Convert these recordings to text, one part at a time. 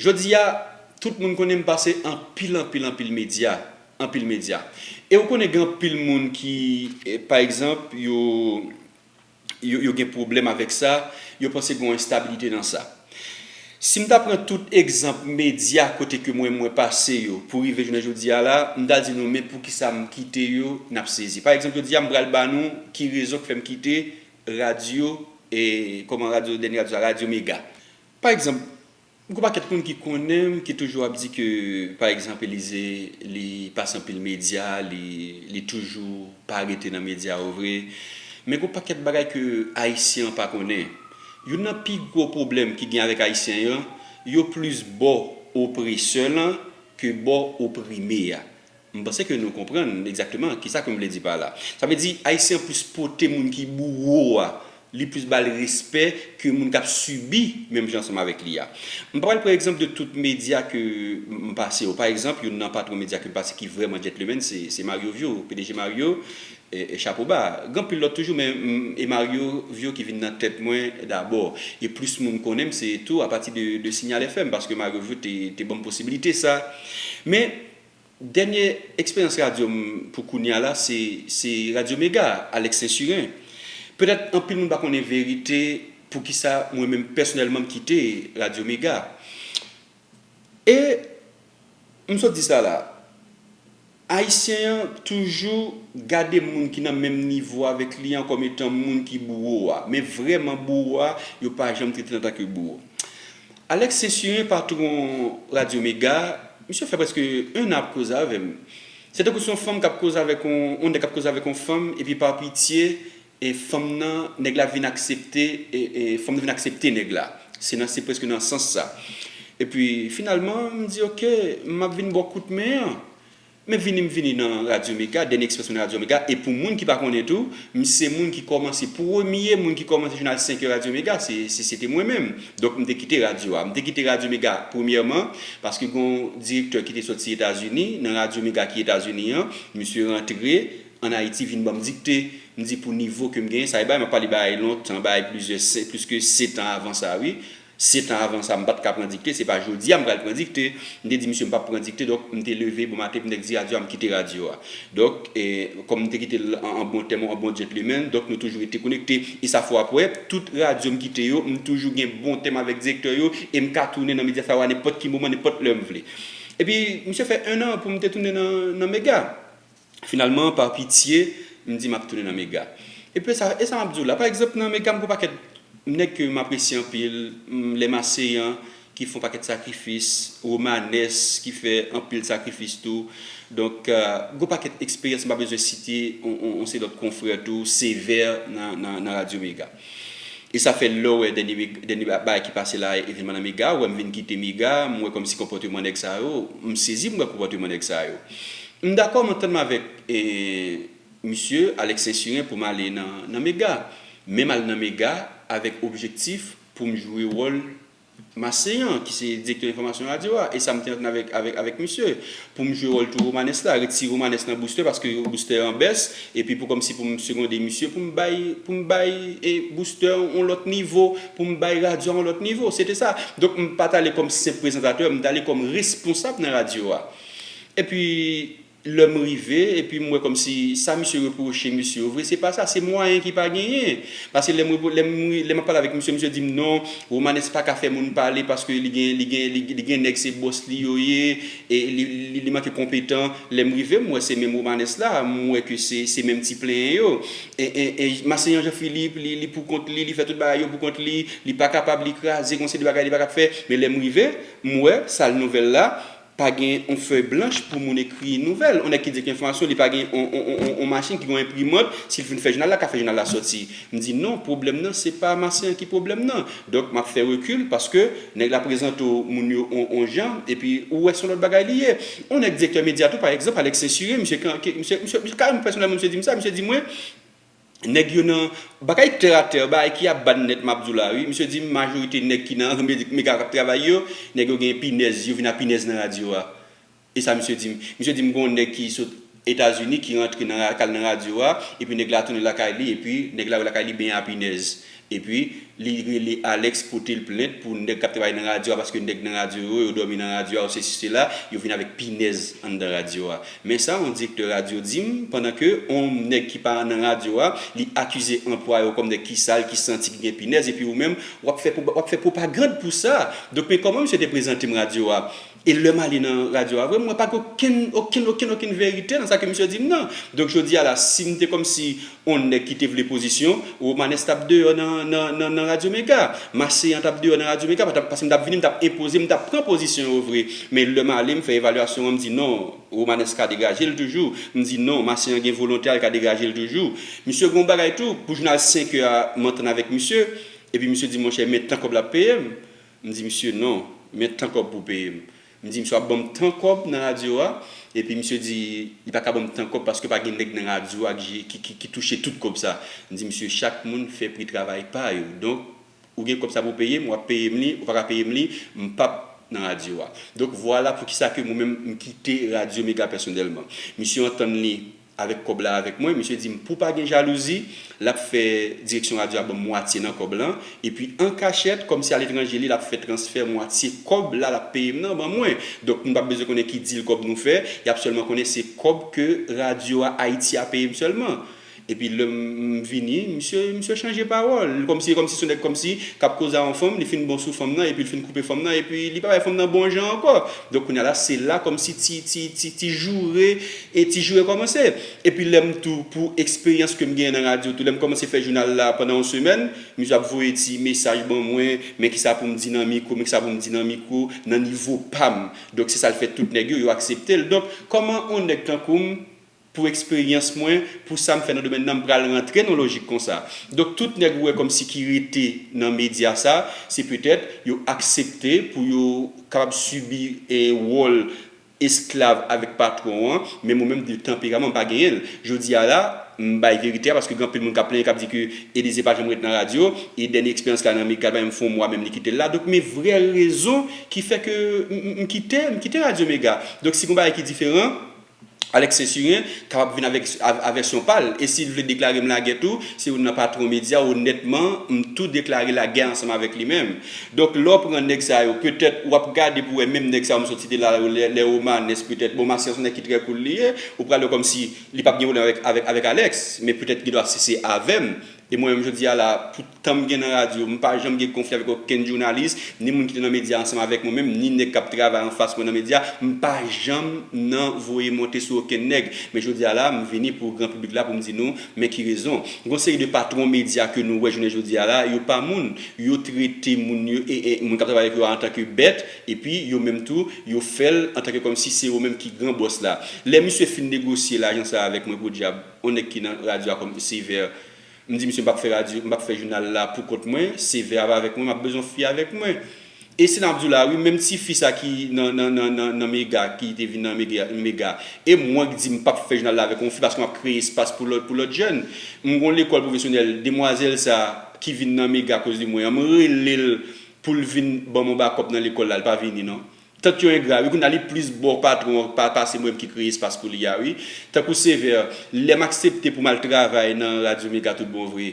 Jodi a, tout moun konnen m pase anpil anpil anpil medya, anpil medya. E ou konnen gen anpil moun ki, pa egzanp, yo, yo gen pwoblèm avèk sa, yo panse gen yon enstabilite nan sa. Si m ta pran tout egzanp medya kote ke mwen mwen pase yo pou rive jounen jodi a la, m ta di nou men poukisa m kite yo, n ap sezi. Pa egzanp jodi a m pral ba nou ki rezon k fè m kite radyo, e kòman radyo, dènye radyo sa, radyo mega. Pa egzanp, gwo pakèt moun ki konnen m ki toujou ap di ke pa egzanp Elize li pase anpil medya, li li toujou pa rete nan medya yo vre. Men gwo pakèt bagay ke Ayisyen an pa konnen. Youn nan pi gwo pwoblèm ki gen avèk Ayisyen yo, yo plis bò opresè lan ke bò oprime a. M panse ke nou konprann egzakteman kisa ke m vle di pa la. Sa vle di Ayisyen an plis pote moun ki bouwo a, li plis ba l respè ke moun k ap sibi menm jan ansanm avèk li a. M pa pral pran egzanp de tout medya ke m pase yo. Pa egzanp, youn nan patwon medya ke m pase ki vrèman djètlemenn se se Mario Vio, pdg Mario, e chapo ba. Gen anpil lòt toujou men m e Mario Vio ki vin nan tèt mwen dabò. E plis moun konnen m se tou apati de de Signal FM paske Mario Vio te te ban m posibilite sa. Men, Dènye eksperyans radyo m pou kounye a la se Radyo Mega, Alex Sainsurin. Petèt anpil moun pa konnen verite poukisa mwen menm pèsonèlman m kite Radyo Mega. E m sot di sa la, Ayisyen an toujou gade moun ki nan menm nivo avèk li an kòm etan moun ki bouwo a. Men vrèman bouwo a, yo pa janm trete l antanke bouwo. Alex Cesure patron radio mega misye fè preske 1 an ap koze avèm se tankou son fanm kap koze avèk on on nèg kap koze avèk on fanm epi par pitye e fanm nan nèg la vin aksepte e e fanm nan vin aksepte nèg la se nan se preske nan sans sa epi finalman mdi ok map vin baw kout men an Men vini m vini nan Radyo Mega, Dènye Ekspresyon nan Radyo Mega, e pou moun ki pa konnen tou, m se moun ki kòmanse, premye moun ki kòmanse jounal 5 è Radyo Mega, se, se se te mwen menm. Donk m te kite radyo a. M te kite Radyo Mega, premyèman, paske gen yon direktè ki te soti Etazini, nan Radyo Mega ki Etazini an, misye rantre ann Ayiti vin ban m dikte. M di pou nivo ke m genyen, sa e bagay m ap pale bagay lontan, bagay plizyè, se, pliske setan avan sa wi. Setan avan sa m pa t ka pran dikte, se pa jodi a m pral pran dikte. M te di misye m pap pran dikte donk m te leve bon maten pou nèk di radyo a m kite radyo a. Donk kòm m te kite l an bon tèm, an bon djentlemen, donk nou toujou rete konekte. E sa fò apre, tout radyo m kite yo, m toujou gen bon tèm avèk direktè yo e m ka tounen nan Mediafire nenpòt ki moman, nenpòt lè m vle. Epi misye fè ennan pou m te tounen nan Mega. Finalman, pa pitye, m di m ap tounen nan mega. Epi sa e sa m ap di w la, pa egzanp nan mega m gen yon pakèt nèg ke m apresye anpil, lè m aseyan ki fè yon pakèt sakrifis, Romanes ki fè anpil sakrifis tou. Donk, gen yon pakèt eksperyans m pa bezwen site yon seri lòt konfrè tou, Sévère nan nan nan radyo mega. E sa fè lèw wè dènye dènye bagay ki pase la evenman nan mega ou wèm vin kite mega m wè kòmsi konpòteman nèg sa yo m sezi m wè konpòteman nèg sa yo m dakò m antann m avèk misye Alex sensiren poum ale nan mega menm al nan mega avèk objektif poum jwe wòl Maseyan, ki se direktè enfòmasyon radyo a, e sa m te antann avèk misye, pou m jwe wòl tou Romanes la, retire Romanes nan Booster, paske Booster an bès, epi pou kòmsi pou m segonde misye, pou m bay, pou m bay Booster yon lòt nivo, pou m bay radyo a yon lòt nivo. Se te sa. Donk m pa t ale kòm senp prezantatè, m t ale kòm responsab nan radyo a. Epi. Lè m rive, epi m wè kòmsi sa misye repwoche mesye yo vre, se pa sa, se mwayen ki pa genyen. Pase lè m repon, lè m ri, lè m ap pale avèk misye, misye di m non, Romanes pa ka fè moun pale paske li gen, li gen, li, li gen nèg se bòs li yo ye, e li, li, li manke konpetan. Lè m rive, m wè se menm Romanes la, m wè ke se, se menm ti plenyen yo. E, e, e Masenyan Jean Philippe, li, li pou kont li, li fè tout bagay yo pou kont li, li pa kapab, li kraze, gon seri de bagay li pa kab fè. Men lè m rive, m wè, sal nouvèl la, Pa gen yon fèy blanch pou moun ekri nouvèl. Yon nèg ki di li gen enfòmasyon, li pa gen yon machin ki gen yon enprimant, si l fin fè jounal la, l ka fè jounal la sòti. M di non, pwoblèm nan se pa Marcelin ki pwoblèm nan. Donk m ap fè rekil paske nèg la prezante w moun yo yon jan epi ou wè se yon lòt bagay li ye. Yon nèk direktè medya tou pa egzanp, Alex Ceinture, misye kareman pèsonèlman misye di m sa, misye di mwen, Nèg yo nan Bagay tè a tè bagay ki ap ban nèt map di w la wi misye di m majorite nèg ki nan mega kap travay yo nèg yo gen pinèz yo vin a pinèz nan radyo a e sa misye di m misye di m gon nèg ki sot etazini ki rantre nan kal nan radyo a epi nèg la tounen lakay li epi nèg la wè lakay li benyen a pinèz Epi li rele Alex potel plent pou nèg kap travay nan radyo a paske nèg nan radyo yo yo dòmi nan radyo a yo sesi sela yo vin avèk pinèz anndan radyo a men sa on direktè radyo dim pandan ke on nèg ki pa nan radyo a li akize anplwaye w kòm nèg ki sal ki santi ki gen pinèz epi ou menm wap fè wap fè pwopagand pou sa donk men kòman misye te prezante m radyo a E lèm ale nan radyo a vre mwen pa gen okenn okenn okenn okenn verite nan sa ke misye dim nan. Donk jodi a la sim te kòmsi on nèg ki te vle pozisyon, Romanès tap deyò nan nan nan radyo mega. Maseyan tap deyò nan radyo mega patap paske mtap vini mtap enpoze mtap pran pozisyon yo vre. Men lèm ale mfè evalyasyon an mdi non Romanès ka degajel toujou, mdi non Maseyan gen volonte a lka degajel toujou. Misye gon bagay tou pou jounal 5 è a mantann avèk misye epi misye di monchè men tan kòb lap peyem. M di misye non, men tan kòb pou w peye m. M di misye w ap ban m tan kòb nan radyo a? Epi misye di li pa ka ban m tan kòb paske pa gen nèg nan radyo a ki touche tout kòb sa. M di misye chak moun fè pri travay pa yo. Donk ou gen kòb sa pou w peye m, w ap peye m li, ou pa ka peye m li, m pap nan radyo a. Donk vwala poukisa ke mwen menm m kite radyo mega pèsonèlman. Misye antann li. Avèk kòb la avèk mwen, misye di m pou pa gen jalouzi, l ap fè direksyon radyo a ban m mwatye nan kòb lan, epi an kachèt, kòmsi aletranje li, l ap fè transfè mwatye kòb la l ap peye m nan ban mwen. Donk, nou pa p bezwen konnen ki dil kòb nou fè, y ap sèlman konnen se kòb ke radyo a Ayiti a peye m sèlman. Epi lè m vini, misye misye chanje pawòl, l kòmsi e kòmsi s on nèg kòmsi k ap koze a yon fanm, li fin bon sou fanm nan epi l fin koupe fanm nan epi li pa bay fanm nan bon jan ankò. Donk kounye a la, se la kòmsi ti ti ti ti joure E ti jou rekòmanse. Epi lè m tou pou eksperyans ke m genyen nan radyo tou, lè m kòmanse fè jounal la pandan yon semèn, misye ap voye ti mesaj ban mwen, men kisa pou m di nan mikwo, men kisa pou m di nan mikwo, nan nivo pa m. Donk se sa l fè tout nèg yo, yo aksepte l. Donk, kòman yon nèg tankou m, pou eksperyans mwen, pou sa m fè nan domèn nan, m pral rantre nan yon lojik konsa? Donk tout nèg ou wè kòmsi ki rete nan medya sa, se petèt yo aksepte pou yo kapab sibi wòl, esklav avèk patwon an, menm ou menm di l tanperaman m pa genyen l. Jodi a la, m bay verite a paske gen anpil moun k ap plenyen k ap di ke Elize pa janm ret nan radyo e dènye eksperyans la nan Migral pa menm fè yon mwa menm li kite l la. Donk men vrè rezon ki fè ke m m kite m kite radyo Mega. Donk si gen yon bagay ki diferan, Alex Sainsurin kapab vin avèk a vèsyon pa l e si l vle deklare m lagè tou, se youn nan patwon medya, onètman m tou deklare lagè ansanm avèk li menm. Donk lè w pran nèg sa yo petèt w ap gade pou wè menm nèg sa yo m soti te la yo lè Romanes petèt bon Masyas se yon nèg ki trè koul li ye ou pral wè kòmsi li p ap gen pwoblèm avèk avèk Alex men petèt gen dwa si se avè m e mwen menm jodi a la pou tan m gen nan radyo m pa janm gen konfli avèk okenn jounalis ni moun ki te nan medya ansanm avèk mwen menm ni nèg k ap travay anfas mwen nan medya m pa janm nan voye monte sou okenn nèg men jodi a la m vini pou gran piblik la pou m di nou Men ki rezon, gon seri de patwon medya ke nou wè jounen jodi a la, yo pa moun, yo trete moun yo, moun kap travay avèk yo a antanke bèt, epi yo menm tou, yo fèl antanke kòmsi se yo menm ki gran bòs la. Lè misye fin negosye lajan sa avèk mwen podyab, on nèg ki nan radyo a kòm Sévère, m di misye m pap fè radyo, m pap fè jounal la pou kont mwen, Sévère ap avèk mwen, map bezwen on fi avèk mwen. E si nap diw la wi menm ti fi sa ki nan nan nan nan nan mega ki te vin nan mega mega e mwen k di m pap fè jounal la avèk yon fi paske map kreye espas pou lòt pou lòt jèn m gon lekòl pwofesyonèl demwazèl sa ki vin nan mega akoz de mwen an m relel poul vin banm yon bakòp nan lekòl la li pa vini non tank yo engra wi kounya li plis bo patron an pa pase mwen ki kreye espas pou li a wi tankou sevè lèm aksepte poum al travay nan radyo mega tout bon vre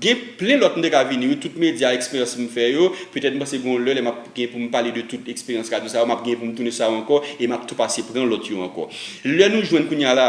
Gen plen lòt m te ka vini wi, tout medya, eksperyans m fè yo, petèt m panse gen yon lè lè m ap gen pou m pale de tout eksperyans radyo sa yo, m ap gen pou m tounen sou sa yo ankò e m ap tou pase pran lòt yo ankò. Lè nou jwenn kounye a la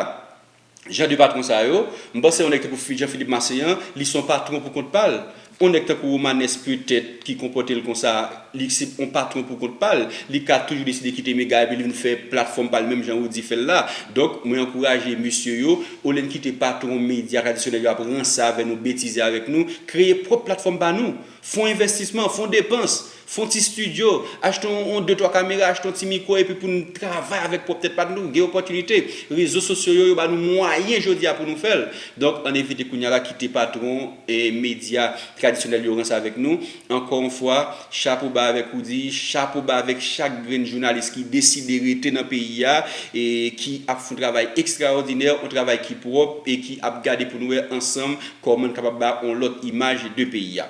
jan de patwon sa yo, m panse yon nèg tankou Jean Philippe Masséan, li se yon patwon pou kont pa l, yon nèg tankou Romanes petèt ki konpòte l konsa, Li se yon patron pou kont pa l. Li ka toujou deside kite Mega epi li vin fè platfòm pa l menm jan Roody fè l la. Donk, mwen ankouraje mesye yo, olye n kite patron medya tradisyonèl yo ap ranse avè nou, betize avèk nou, kreye pwòp platfòm pa nou. Fon envèstisman, fon depans, fon ti stidyo, achte yon de twa kamera, achte yon ti mikwo epi pou n travay avèk pwòp tèt pa nou. Gen opòtinite. Rezo sosyo yo, yo ba nou mwayen jodi a pou nou fè l. Donk, ann evite kounye a la kite patron medya tradisyonèl yo ranse avèk nou. Ankò yon fwa, chapo ba avèk ou di, chapo ba avèk chak grenn jounalis ki deside rete nan peyi a, e ki ap fon travay ekstraòdinè, on travay ki pwòp e ki ap gade pou nou wè ansanm kòman n kapab ba on lòt imaj de peyi a.